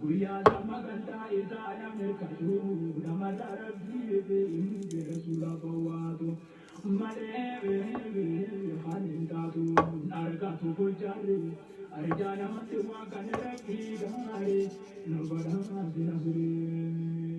Guyyaa damma gandaa isaa nam irkatu namarra rabbii beeyi rasuula bowwaatu malee kan hin taatu hin argatu fujjarri arjaa namatti waa kan rabbii gaarii nu badhaase nasrii.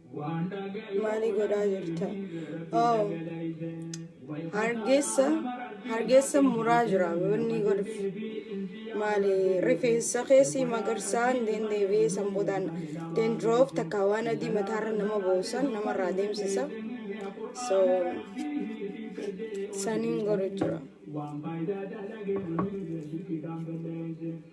Maali godhaa jirta? Oh, hargeessa hargeessa muraa jira wanni godhuuf. Maali rifeensa keessi magarsaan deebi'ee san boodaan dandroof takka waan adii mataarra nama boosan namarraa deemsisa. So saniin godhu jira.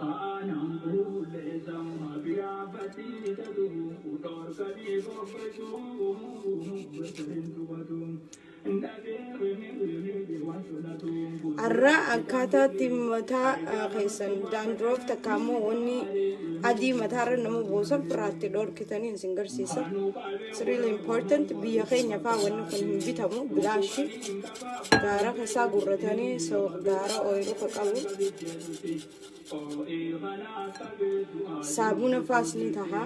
Kaanaan qulqulleessaa Maafiyaa faxii tatu Dhorkanii fokkessuu Bakka hin tuqatu Dhabee wini wini waan tolatu Arraa akkaataatti mataa ah, keessan daandroof takka ammoo wanni adii mataarra nama buusan firraatti dhorkitanii isin garsiisa. It's really important biyya keenya faa wanni kun hin bitamu bilaashi. Gaara kasaa gurratanii so gaara ooyiruu ka qabu saabuna faas ni taha.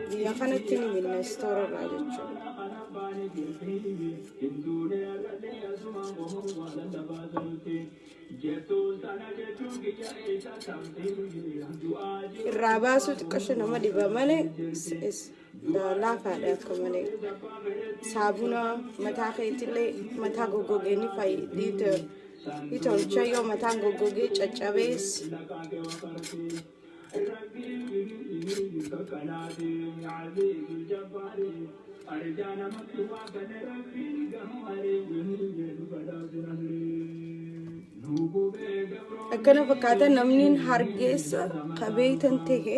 Biyya kanatti ni binna istoora irraa jechuudha. Irraa baasuu xiqqasho nama dhiba malee laafaadha akka malee saabuna mataa keetillee mataa goggogee ni fayyita ni tolcha yoo mataan goggogee caccabees Thank you. akkana fakkaata namni hargeessa ka beeytan ta'e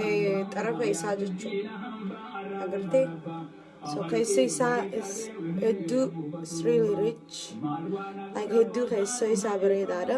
eh, xarafa isaa jechuudha agartee so keessa isaa is hedduu is really rich like hedduu keessa isaa bareedaadha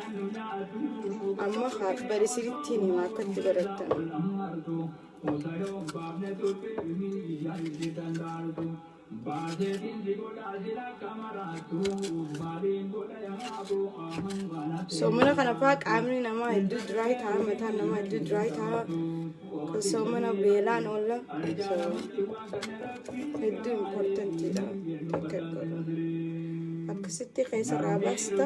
amma haa bari siritti hin hima akka itti barattan soomana kana faa qaamni namaa hedduu diraay ta'a mataan namaa hedduu diraay ta'a kun soomana beelaan oolla so hedduu importantiidha akka godhu akkasitti keessa irraa baasta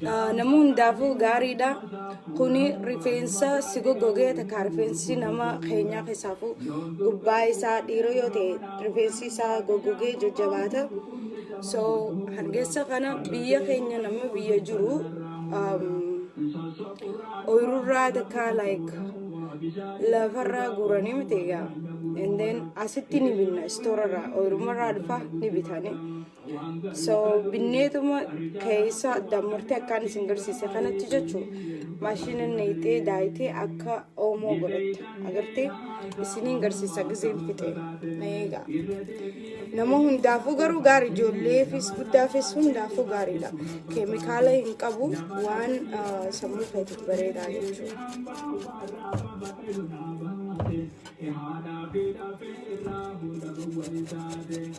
nama hundaafuu gaariidha. Kuni rifeensa si goggogee takka rifeensi nama keenyaa keessaafuu gubbaa isaa dhiira yoo ta'e rifeensi isaa goggogee jajjabaata. So hargessa kana biyya keenya nama biyya jiru ooyirurraa takka like lafarraa guuranii miti egaa. And then asitti ni binna istoorarraa ooyirumarraa dhufa ni bitanii. so binneetuma keessa dammurtee akkaan isin garsiise kanatti jechuun maashina neexee daayitee akka oomoo godhatte agartee isiniin garsiisa gizeen fixe na eegaa nama hundaafuu garuu gaarii ijoolleefis guddaafis hundaafuu gaariidha keemikaala hin qabu waan ah, sammuu keetiif bareedaa jechuudha.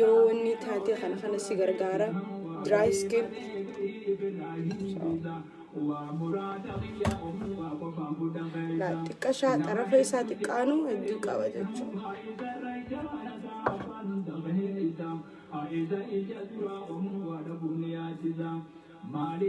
yoo wanni taate kana kana si gargaara dry skin laa xiqqashaa xarafa isaa xiqqaanu hedduu qaba jechuudha. Maali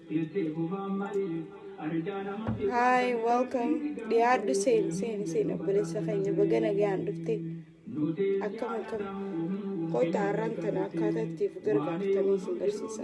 Hi, welcome. Dhiyaadhu seeni seeni seeni obboleessa keenya baga nagaan dhufte. Akkam akkam kottaa har'aan tana akkaataa ittiif gargaartanii isin barsiisa.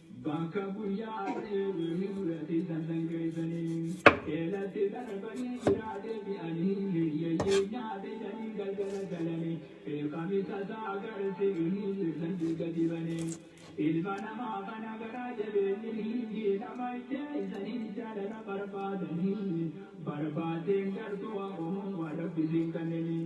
Bakka guyyaa ari'een mul'ate san dhangeessanii eelatti darbanii biraa deebi'anii hiyyeeyyii nyaate jedhanii galgala galanii beekami tasaa agartee inni jirtan diiga dibanii ilma namaa kana garaa jabeenyi hindii nama ijjeessanii jaalala barbaadanii barbaadeen gartuu amuun waan rabbisiin kanneenii.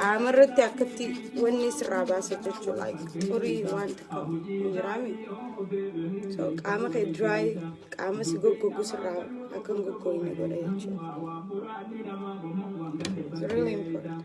Qaama irratti akkatti wanni sirraa baasa jechuun like xurii waan takka hin jiraame. So qaama kee dry qaama si goggogu sirraa akka hin goggogne godha jechuudha. It's really important.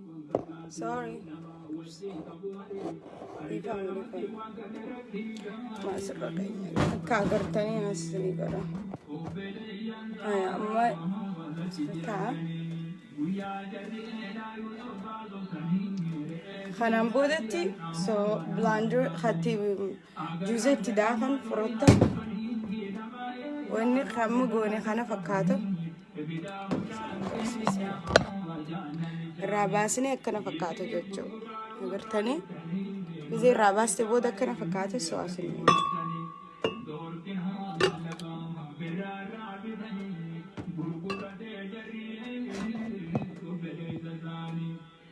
Sorry. Akka agartanii haasisanii godha. Haya, amma taa. Kanaan boodatti so bilaandar hatti juuza itti daafan furootta wanni kamma goone kana fakkaatu. irraa baasnee akkana fakkaata jechuu agartanii gisee irraa baaste booda akkana fakkaate so'asin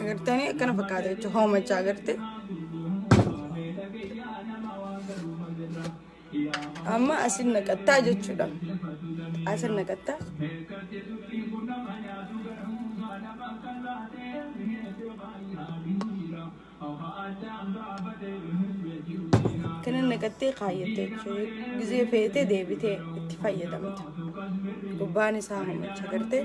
agartanii akkana fakkaata jechuudha hoomachaa agartee. Amma asin naqattaa jechuudha. Asin naqattaa. Kana naqattee kaayyattee jechuudha. Gizee feetee deebitee itti fayyadamta. Gubbaan isaa mamacha gartee.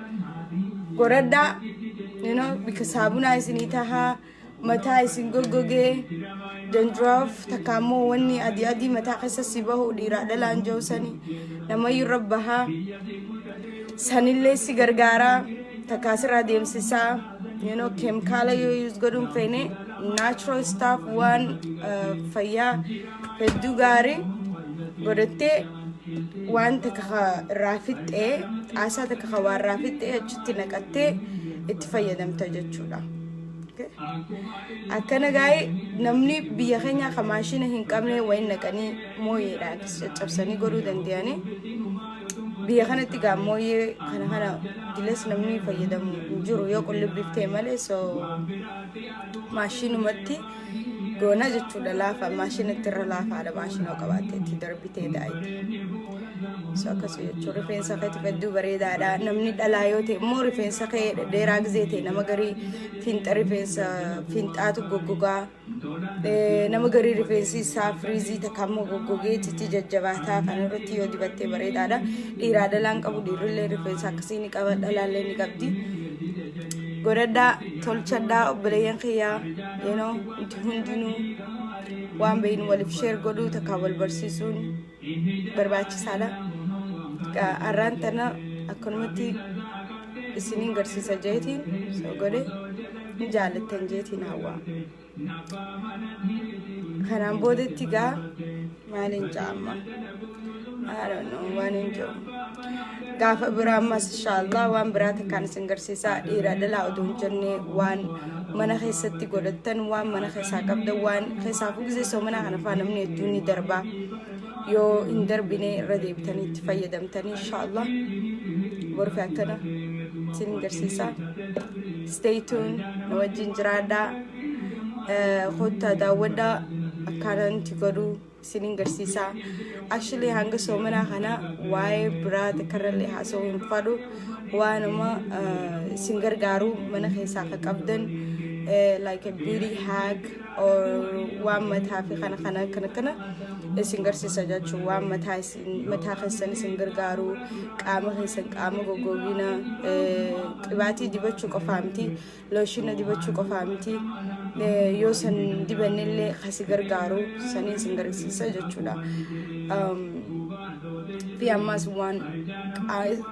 goradhaa you know bika saabunaa isinii tahaa mataa isin goggogee dandruff takka ammoo wanni adii adii mataa keessa si bahu dhiiraa dhalaan jiru sani namayyuu irra bahaa sanillee si gargaaraa takkaa sirraa deemsisaa you know keemikaala yoo use godhuun feene natural stuff waan uh, fayyaa hedduu gaarii godhattee waan takka ka irraa fixxee xaasaa takka ka waa irraa fixxee achitti naqattee itti fayyadamta jechuudha. Okay? Akkana gaa'ee namni biyya keenyaa ka maashina hin qabne wayin naqanii mooyeedha akkas caccabsanii godhuu danda'anii biyya kanatti gaa mooyee kana kana dilas namni fayyadamu hin jiru yoo qullubbiif ta'e malee so maashinumatti goona jechuudha laafa maashina itti irra laafaadha maashinoo qabaatte itti darbitee daa'imti so akkasii jechuun rifeensa keetu hedduu bareedaadha namni dhalaa yoo ta'e immoo rifeensa kee dheeraa gizee ta'e nama garii fiinxa rifeensa fiinxaatu goggogaa nama garii rifeensi isaa firiizii takka immoo goggogee itti jajjabaataa kan irratti yoo dibattee bareedaadha dhiiraa dhalaan qabu dhiirrillee rifeensa akkasii ni qaba dhalaallee ni qabdi godhadhaa tolchadhaa obboleeyyan kiyyaa you know nuti hundinuu waan beeynu waliif sheer godhuu takkaa wal barsiisuun barbaachisaadha Gaa har'aan tana akkanumatti isiniin garsiisa jeetiin so godhe ni jaalattan jeetiin hawwaa Kanaan boodatti egaa maaliin ja'a amma? I don't know waan hin jiru. Gaafa biraa ammas inshaallah waan biraa takkaan isin garsiisaa dhiira dhalaa oduu hin jenne waan mana keessatti godhattan waan mana keessaa qabdan waan keessaa fugisee soomanaa kana faa namni hedduun ni darbaa. yoo hin darbine irra deebitanii itti fayyadamtanii inshaallah borfi akkana isin garsiisa stay tune nu wajjin jiraadhaa Eh, kottaa daawwadhaa akkaataan itti godhu isin garsiisa actually hanga soomanaa kana waa'ee biraa takkarrallee haasa'uu hin fadhu waanuma eh, isin gargaaru mana keessaa akka qabdan eh, like a beauty hack waan mataa fi kana kana kana kana isin garsiisa jechuun waan mataa isin mataa keessan isin gargaaru qaama keessan qaama goggogiina qibaatii dibachuu qofaa miti looshiina dibachuu qofaa miti yoo san dibannillee kasi gargaaru sanii isin garsiisa jechuudha. Fi ammas waan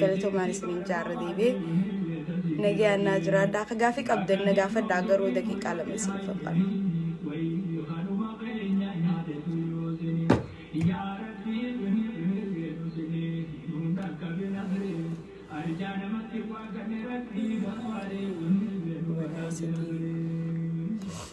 galatoomaan isiniin jaarra deebi'e nagayaan naa jiraadha akka gaafii qabdan na gaafadhaa garuu daqiiqaa lama isin faffana. Thank you.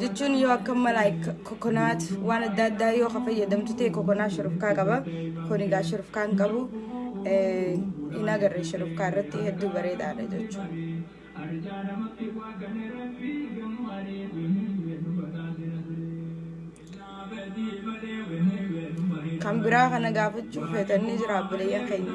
jechuun yoo akka malaa kokonaat waan adda addaa yoo ka fayyadamtu ta'e kokonaa shurufkaa qaba kun egaa shurufkaa hin qabu hin agarre shurufkaa irratti hedduu bareedaadha jechuudha. kan biraa kana gaafachuuf feetanii jira abbileeyyan keenya.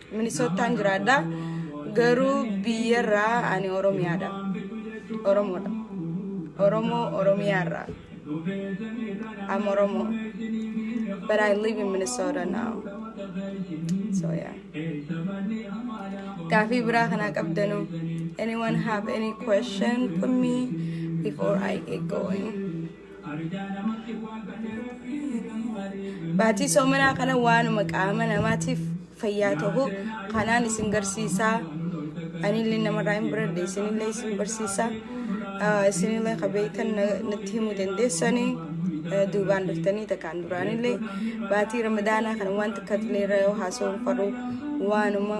Minisoottaan jiraadha. Garuu biyyarraa ani Oromiyaadha. Oromoodha. Oromoo Oromiyaarraa. I'm Oromo. But I live in Minnesota now. So yeah. Gaafii biraa kanaa qabdanu. Anyone have any question for me before I get going? Baatii soomanaa kana waanuma qaama namaatiif fayyaa ta'u kanaan isin garsiisaa. Anillee namarraa hin baradhe isinillee isin barsiisaa. Isinillee ka beektan natti himuu dandeessanii. duubaan dhuftanii takkaan duraanillee baatii ramadaanaa kana waan xiqqatillee irra yoo haasawuun faru waanuma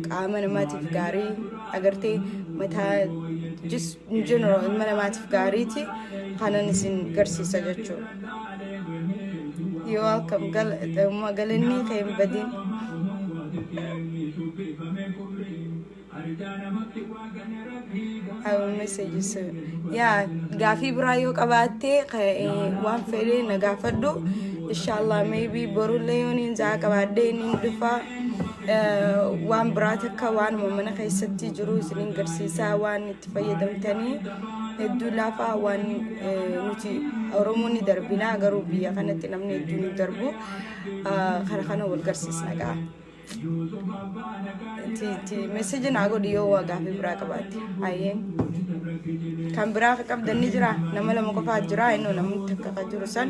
qaama namaatiif gaarii agartee mataa jis in general ilma namaatiif gaariiti kanan isin garsiisa jechuudha. Yoo akkam galanni kee hin badin. I will message you soon. Yaa gaafii biraa yoo qabaattee waan fedhee na gaafadhu. Inshallah maybe borullee yoo niin zaa qabaadhee niin dhufaa. waan biraa takka waanuma mana keessatti jiru isinin garsiisaa waan itti fayyadamtanii hedduu laafaa waan nuti oromoon ni darbinaa garuu biyya kanatti namni hedduu ni darbu kana kana wal garsiisna gaa. Meseji naa godhi yoo waa gaafii biraa qabaatte hayyeen kan biraa qabdan ni jira nama lama qofaa jira innoo namni takka kan jiru san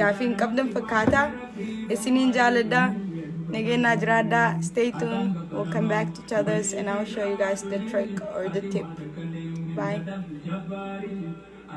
gaafii hin qabdan fakkaata isiniin jaaladha nageenyaa jiraadha stay tuned we'll come back to each others and I'll show you guys the trick or the tip bye